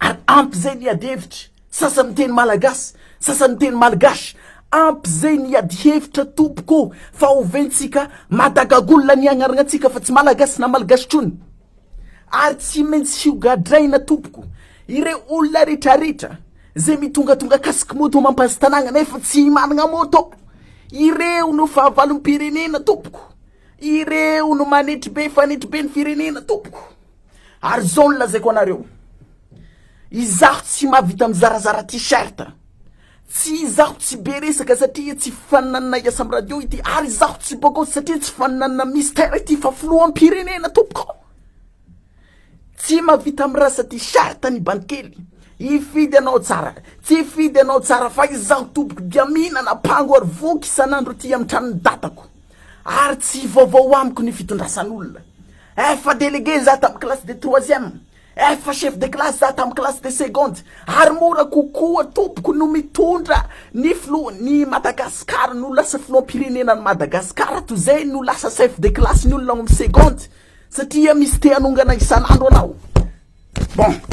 Ary ampy izay ny adihevitra, sasany miteny malagasy, sasany miteny malgache, ampy izay ny adihevitra tompoko ô, fa oventsika madagagolona ny agnaragnatsika fa tsy malagasy na malgache ntsony. Ary tsy maintsy hogadraina tompoko ireo olona retraretra izay mitongatonga casque moto mampazy tanàgna nefa tsy managna moto, ireo no fahavalom-pirenena tompoko, ireo no manetribe fanetribe ny firenena tompoko. Ary izao no lazaiko anareo, izaho tsy mahavita mizarazara t-shirt, tsy izaho tsy be resaka satria tsy faninanana hiasa amin'ny radio ity, ary izaho tsy bôgôsy satria tsy faninanana Mister ity fa filoham-pirenena tompoko. Tsy mahavita mirasa t-shirt ny bandikely. Hifidy anao tsara, tsy hifidy anao tsara fa izaho tompoko dia mihinana pango ary voky isan'andro ity amin'ny tranon'ny dadako. Ary tsy vaovao amiko ny fitondrasan'olona. Efa délégué za tamin'ny classe de troisième, efa chef de classe za tamin'ny classe de seconde, ary mora kokoa tompoko no mitondra ny filohan'ny Madagascar no lasa filoham-pirenenan'i Madagascar toy zay no lasa chef de classe ny olona ao amin'ny seconde satria misy te hanongana isan'andro anao. Bon.